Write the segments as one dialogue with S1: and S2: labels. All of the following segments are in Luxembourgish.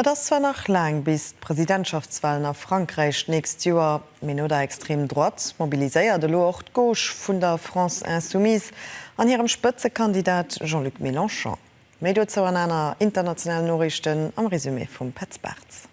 S1: Et ass zwar nach laang bis d'Presidentschaftswalen a Frankräich d'nächst Joer, mee no der extrem Droite mobiliséiert elo och d'Gauche vun der France Insoumise an hirem Spëtzekandidat Jean-Luc Mélenchon. Méi dozou an aner internationalen Noriichten am Resumé vum Petz Bartz.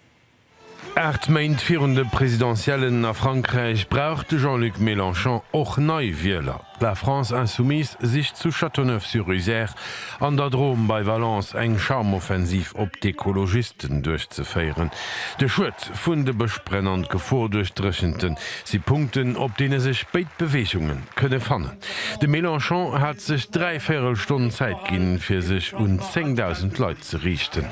S1: Aacht
S2: Méint virun de Presidentiellen a Frankräich brauch de Jean-Luc Mélenchon och nei Wieler. La France Insoumise sicht zu Châteauneuf-sur-Isère an der Drôme bei Valence eng Charmoffensiv op d'Ekologisten duerchzeféieren. De Schued vun de Bëschbränn an d'Gefor duerch Dréchente si Punkten, op deene sech béid Beweegunge kënne fannen. De Mélenchon hat sech dräi Véierelstonn Zäit ginn, fir sech un 10.000 Leit ze riichten.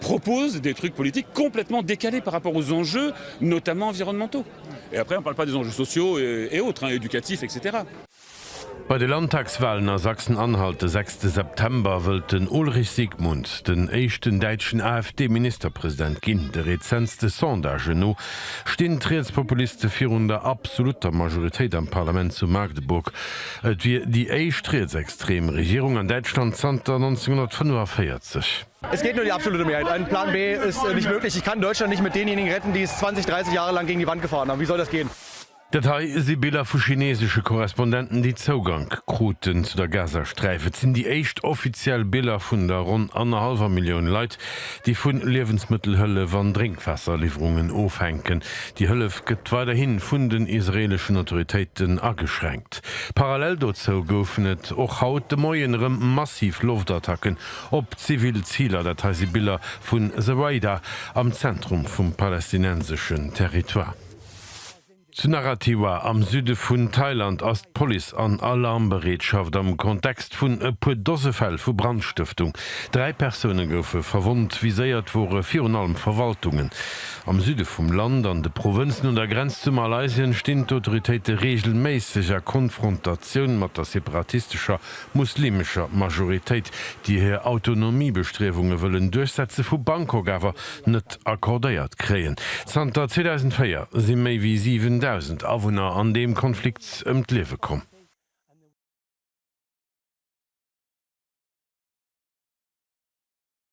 S3: proposent des trucs politiques complètement décalés par rapport aux enjeux, notamment environnementaux. Et après, on parle pas des enjeux sociaux et autres, éducatifs, etc. Bei
S2: de Landtagswalen a Sachsen-Anhalt de sechste September wëllt den Ulrich Siegmund den éischten däitschen AfD-Ministerpresident ginn. De rezentste Sondagen no stinn d'Rietspopuliste virun der absolutter Majoritéit am Parlament zu Magdeburg. Et wier déi éischt rietsextrem Regierung an Däitschland zanter 1945. Es geht nur die
S4: absolute Mehrheit. Ein Plan B ist nicht möglich. Ich kann Deutschland nicht mit denjenigen retten, die es 20, 30 Jahre lang gegen die Wand gefahren haben. Wie soll das gehen? Dat hei si
S2: Biller vu chinesesche Korrespondenten, déi Zougank kruten zu der Gazasträif. Et sinn déi éischt offiziell Biller vun der ronn annerhallwer Millioun Leit, déi vu Liewensmëttelhëllef an Drénkwaasserliwwerungen ofhänken. Déi Hëllef gëtt weiderhi vun den israeeleschen Autoritéiten ageschränkt. Parallel dozou goufen et och haut de Moien erëm massiv Loftattacken Op zivil Ziler, dat hei si Biller vun The Raider am Zentrum vum palästinenseschen Territoire. Zu Narathiwa am Süde vun Thailand ass d'Police an Alarmbereetschaft am Kontext vun e puer Dose Fäll vu Brandstëftung. Dräi Persoune goufe verwonnt, viséiert wore virun allem Verwaltungen. Am Süde vum Land, an de Provënzen un der Grenz zu Malaysien, stinn d'Autoritéite reegelméisseg a Konfrontatioun mat der separatistescher muslimescher Majoritéit, déi hir Autonomiebestriewunge wëllen duerchsetze vu Bangkok awer net accordéiert kréien. Zanter 2004 si méi wéi 7.000 Awunner an deem Konflikt ëm d'Liewe komm.